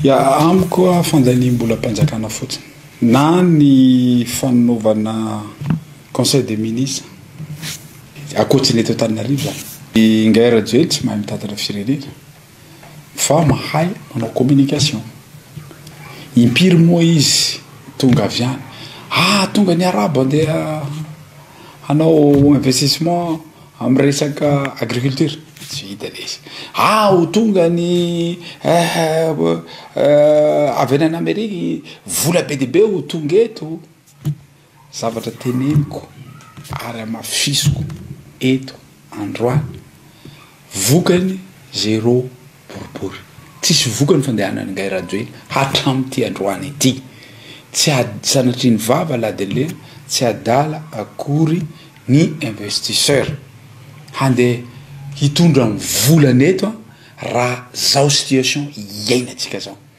Ya amiko a fandaniam-bolam-panjakana fotsiny na ny fanaovana conseil des ministres akoatry ny eto Antananarivo zany. Ingahy Rajoelina tsy mahay mitantana firenena fa mahay manao communication. Impiry moa izy tonga avy any ah tonga ny arabo andeha hanao investissement Amin'ny resaka agriculture, tsy vita le izy. Ah! ho tonga ny eh avy any an'Amerika, vola be dia be ho tonga eto. Zavatra teneniko ary hamafisiko eto androany, vokany zéro boribory. Tsisy vokany fandehanan'i Ngay Rajoelina hatramin'ity androany ity. Tsy ady sanatrian'ny vava ladenlena, tsy adala akory ny investisseur. Handeha hitondra ny volany eto an, raha zao situation iainantsika zao.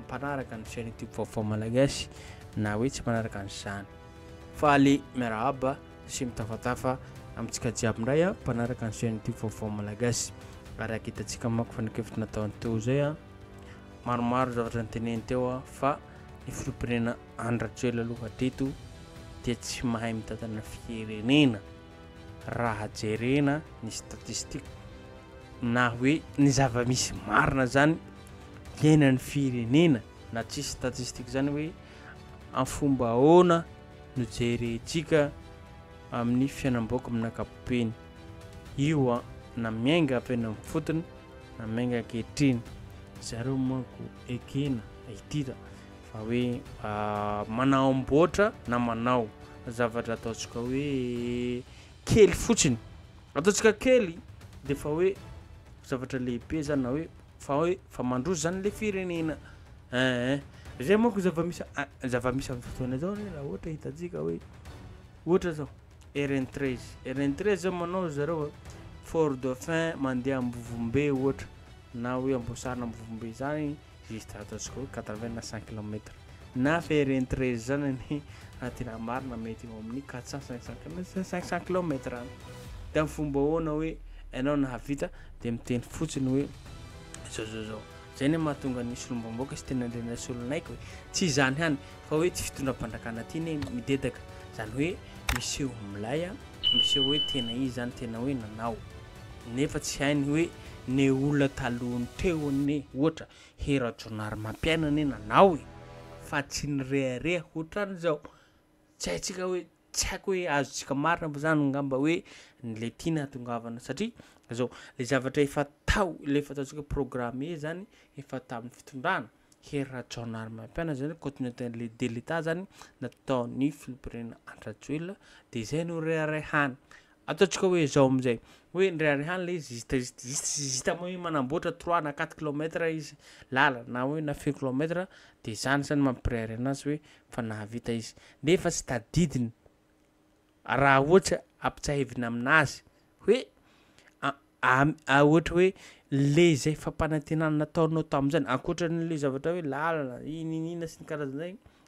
mpanaraka ny chaîne youtube vaovao malagasy na hoe tsy manaraka an'izany faly miarahaba sy mitafatafa amintsika jiaby indray a mpanaraka ny chaîne youtube vaovao malagasy ary aketantsika mako fanakevitra nataony teo izay a maromaro zavatra niteneny teo a fa ny filopirenena andrajoela aloha teto dia tsy mahay mitantana firenena raha jerena ny statistika na hoe ny zava-misy marina zany iainan'ny firenena na tsisy statistika izany hoe amin'ny fomba ahoana no jerentsika amin'ny fiainam-bahoaka amin'ny ankapobeny io a na miainga avy any amin'ny fotony na miainga ankehitriny zareo manko ekena itira fa hoe ah, manao amboatra na manao zavatra ataontsika hoe kely fotsiny ataontsika kely dia fa hoe zavatra lehibe zany na hoe Fa hoe fa mandroso zany le firenena eeh. Zay manko zava-misy zava-misy am'zao fotoana zao re raha ohatra hitantsika hoe ohatra zao RN 13 RN 13 zao manao zareo fort dauphin mandeha ambovombe ohatra na hoe amboasary na ambovombe zany juste ataontsika hoe 80 na 100 kilomètre Na ferreen treize izany anie raha tena marina mety eo amin'ny quatre cent cinq cent kilomètre cinq cent kilomètre any de amin'ny fomba ahoana hoe ianao nahavita de miteny fotsiny hoe zao zao zao zay ny mahatonga ny solombamboaka sy tena andrena solonaiky hoe tsy izany hany fa hoe tsy fitondram-panjakana aty ne midedaka zany hoe miseho milay a miseho hoe tena izy zany tena hoe nanao nefa tsy hainy hoe ne olona talohan'ny teo ne ohatra He Rajaonarimampiaina anie nanao e! fa tsy nirehareha hotran'izao! tsy haintsika hoe tsy haiko hoe azontsika marina ve zany ngamba hoe ny le tiana hatongavana satria zao le zavatra efa tao le efa ataontsika programme zany efa tamin'ny fitondrana Hery Rajaonarimampianina zany continuité le de l'etat zany nataon'ny filoham-pirenena Andry Rajoelina de zay no reharehana Ataontsika hoe izao amin'izay, hoe indray andro ihany ilay izy zista zista zista zista zista moa hoe manamboatra trois na quatre kilomètre izy lalana na hoe na feu kilomètre dia izany izany mampirehareha anazy hoe efa nahavita izy nefa tsy tadidiny raha ohatra ampitsahivina aminazy hoe a ohatra hoe le izay fampanantenana nataonao tamin'izany ankoatra an'ilay zavatra hoe lalana iny iny iny sy ny karazan'izay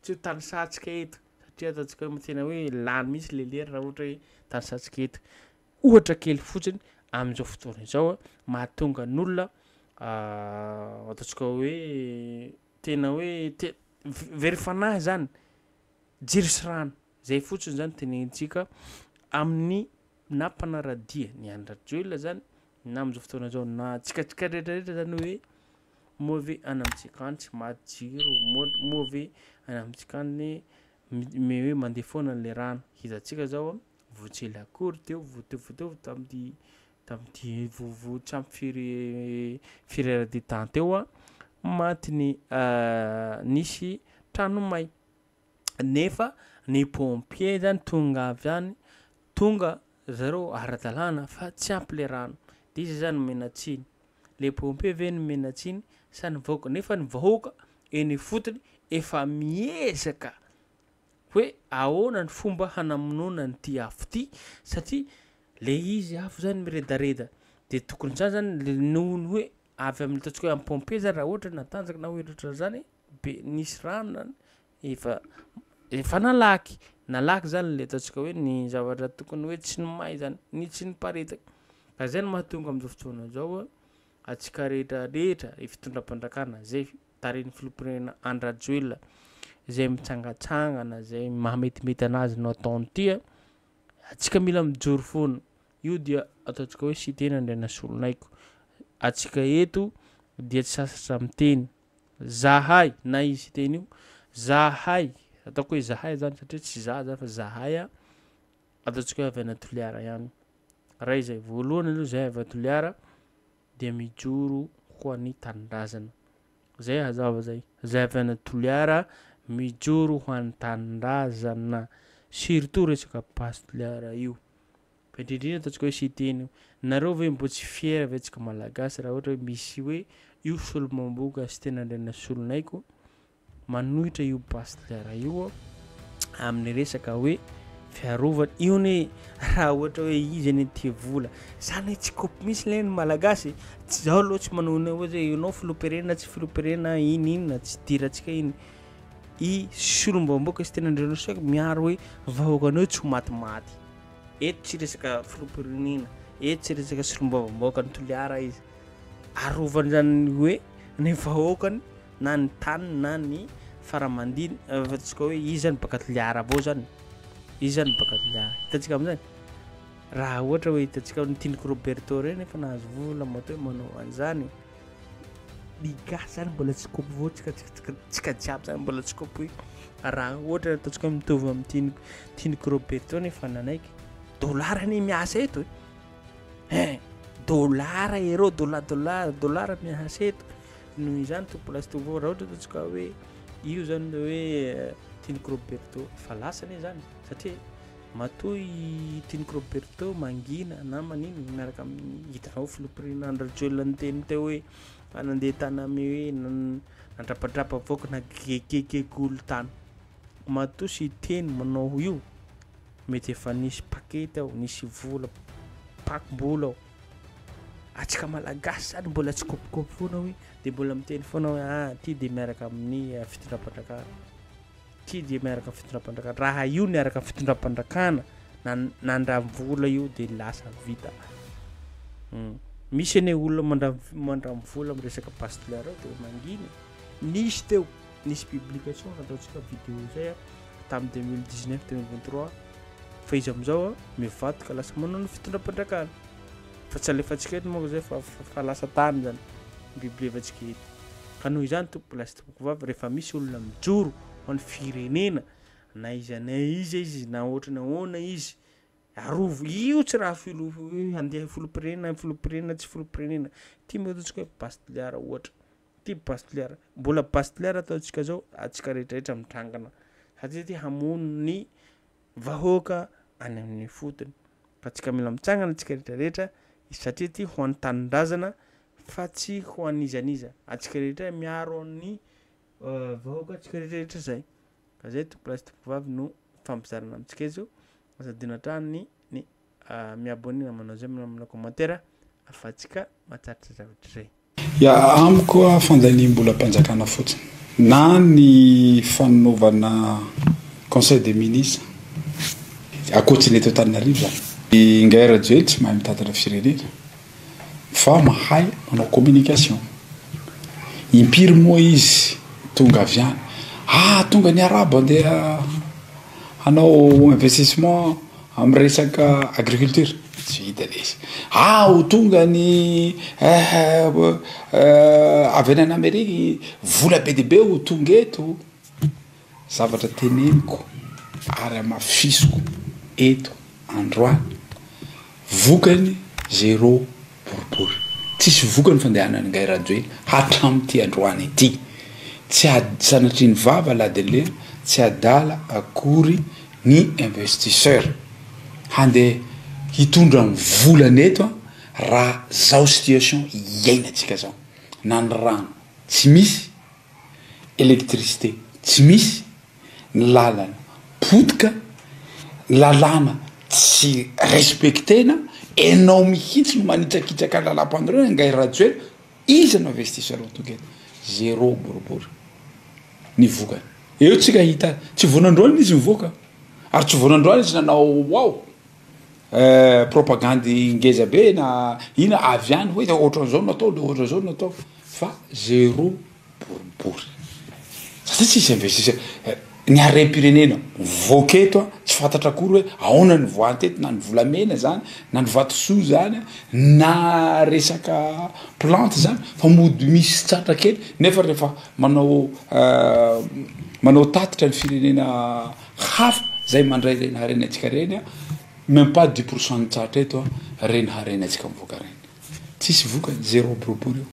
Tsy ho tanisantsika eto satria ataontsika hoe tena hoe lany mihitsy ilay lery raha ohatra hoe tanisantsika eto. Ohatra kely fotsiny amin'izao fotoana izao mahatonga ny olona ataontsika hoe tena hoe te- ve- very fanahy zany jiro sy rano zay fotsiny zany tenenintsika amin'ny na mpanaradia ny Andry Rajoelina zany na amin'izao fotoana izao na tsikatsika rehetrarehetra zany hoe Moa ve any amintsika any tsy maty jiro? Moa ve any amintsika any hoe mandeha foana ilay rano? Hezantsika izao voatsely akory teo vao teo vao teo tamin'ity tamin'ity vovo tsy ampy firy firy heures de temps teo maty ny nisy trano may. nefa ny pompier zany tonga avy any tonga zareo ara-dalàna fa tsy ampy le rano de iza zany omena tsiny? le pompier ve no omena tsiny sa ny vahoaka? nefa ny vahoaka eny ifotony efa miezaka hoe ahoana ny fomba hanamonoana an'ity afo ty satria le izy afo zany miredareda de tokony zany zany noho ny hoe avy amin'ny ataontsika hoe amin'ny pompier zany raha ohatra natanjaka na hoe ohatrohatran'zany be nisy rano zany efa efa nalaky nalaky zany le ataontsika hoe ny zavatra tokony hoe tsy ny may zany ny tsy niparitaka ka zay no mahatonga am'zao fotoana zao a antsika rehetra rehetra ny fitondram-panjakana zay tarihin'ny filoham-pirenena Andry Rajoelina zay mitsangantsangana zay maha metimety anazy no ataony ty a antsika mila mijoro foana io dia ataontsika hoe Siteny Andrianasolonaiky antsika eto dia tsy sasatra miteny Zahay, na izy hiteny io, zahay, ataoko hoe zahay zany satria tsy za zany fa zahay a, ataontsika hoe avy any Toliara ihany, ray izay voalohany aloha izay avy any Toliara dia mijoro ho an'ny tanindrazana, zay hazava zay, zay avy any Toliara mijoro ho an'ny tanindrazana, surtout resaka basy Toliara io. Fa indrindra indrindra ataontsika hoe siteny io. Nareo ve mbo tsy fier ve tsika malagasy raha ohatra hoe misy hoe io solombamboka siteny Randrianasolonaiky manohitra io pasteur io amin'ny resaka hoe fiarovana io ne raha ohatra hoe izy anie tia vola zany hoe tsy kopy misy le ny malagasy tsy zaho aloha tsy manohina ohatra hoe ianao filoperena tsy filoperena iny iny na tsy dirantsika iny i solombamboka siteny Randrianasolonaiky miaro hoe vahoakanao tsy ho matimaty Eto tsy resaka filoham-pirenena, eto tsy resaka solombavambahoaka ny Toliara izy. Arovany izany ny hoe ny vahoakany na ny taniny na ny faramandiny eh, fa tsy ka hoe izy zany baka Toliara avao zany. Izy zany baka Toliara. Hitantsika amin'izany. Raha ohatra hoe hitantsika ny Tiniky Roberto ireny efa nahazo vola matoa hoe manao an'izany. ny gasy zany mbola tsy kompo tsika tsika tsika jiaby zany mbola tsy kompo raha ohatra ataontsika hoe mitovy amin'ny tiny tiny Roberto nefa nanaiky dolara anie miasa eto e eh dolara ereo dola dolara dolara miasa eto noho izany tompolasy tompo raha ohatra ataontsika hoe io zany le hoe tiny Roberto efa lasa anie zany satria Matoa i Tiny Roberto mangina na maninona miaraka amin'ny hitanao filoham-pirenena Andry Rajoelina niteny teo hoe fa nandeha tany amin'ny hoe nandrapadrapa vahoaka na gegegege olon-tany. Matoa sy Tiny manao io mety efa nisy pakety ao, nisy vola, pakim-bola ao. Atsika malagasy zany mbola tsy kopikopy foana hoe dia mbola miteny foana hoe ah ty dia miaraka amin'ny fitondram-panjakana. Ity dia miaraka amin'ny fitondram-pandrakana. Raha io niaraka amin'ny fitondram-pandrakana na nandram-vola io dia lasa vita. Hmm. Misy anie olona mandram-vola amin'ny resaka bastler ao dia mangina. Nisy teo, nisy publication nataontsika vidéo zay tamin'ny 2019 2023 fa izy amin'izao mivadika lasa manao ny fitondram-pandrakana. Fa tsy alefantsika eto moa zay fa fa lasa tany zany bibilevantsika eto. Ka noho izany tompo lasa Tompokovavy rehefa misy olona mijoro ho an'ny firenena na iza na iza izy na ohatry ny ahoana izy arovy io tsy raha filo handeha filoham-pirenena filoham-pirenena tsy filoham-pirenena ity moa ataontsika hoe base toliara ohatra ity base toliara mbola base toliara ataontsika zao antsika rehetrarehetra mitrangana satria ity hamono ny vahoaka any amin'ny ifotony fa tsika mila mitsangana tsika rehetra rehetra satria ty ho an'ny tanindrazana fa tsy ho an'iza n'iza atsika rehetra miaro ny vahoaka tsika rehetra rehetra zay fa zay tompo lahy sy tompo vavy no ifampizarana amintsika eto aza adino hatrany ny mi-abonner na manao j'aime na manao commentaire fa tsika mahatratra zavatra izay. Ya amiko a fandaniam-bolam-panjakana fotsiny na ny fanaovana conseil des ministres akoatsin'ny eto Antananarivo zany. Ingahy Rajoelina tsy mahay mitantana firenena fa mahay manao communication. Impiry moa izy tonga avy any, ah tonga ny arabo andeha hanao investissement Amin'ny resaka agriculture, tsy vita le izy. Ah! ho tonga ny eh avy any an'Amerique, vola be dia be ho tonga eto. Zavatra teneniko ary hamafisiko eto androany, vokany zéro. boribory. Tsisy vokany fandehanan'i Ngay Rajoelina hatramin'ity androany ity. Tsy ady sanatrian'ny vava ladin'lena, tsy adala akory ny investisseur. Handeha hitondra ny volany eto an, raha zao situation iainantsika zao. Na ny rano tsy misy. électricité tsy misy, ny lalana potika, ny lalàna tsy respecter-na, enao mihitsy no manitrakitraka ny lalam-panorenana angahy Rajoelina, iza no investisseur tonga eto? zéro boribory ny vokany, eo tsika hita tsy vao nandroana izy nivoaka ary tsy vao nandroana izy nanao waouh. eh, propagandy ngeza be na ina avy any hoe ohatran'izao no atao le ohatran'izao no atao fa zero boribory satria tsisy investisseur eh, ny harem-pirenena mivoaka eto a tsy fantatra akory hoe aona ny voant eto na ny volamena zany na ny vatosoa zany a na resaka plante zany fa mody misy tratra kely nefa rehefa manao eh, manao tatitra ny firenena hafa zay mandray reny harenantsika reny a meme pas dix pourcent nitsahatra eto a reny harenantsika mivoaka reny tsisy vokany zéro boribory io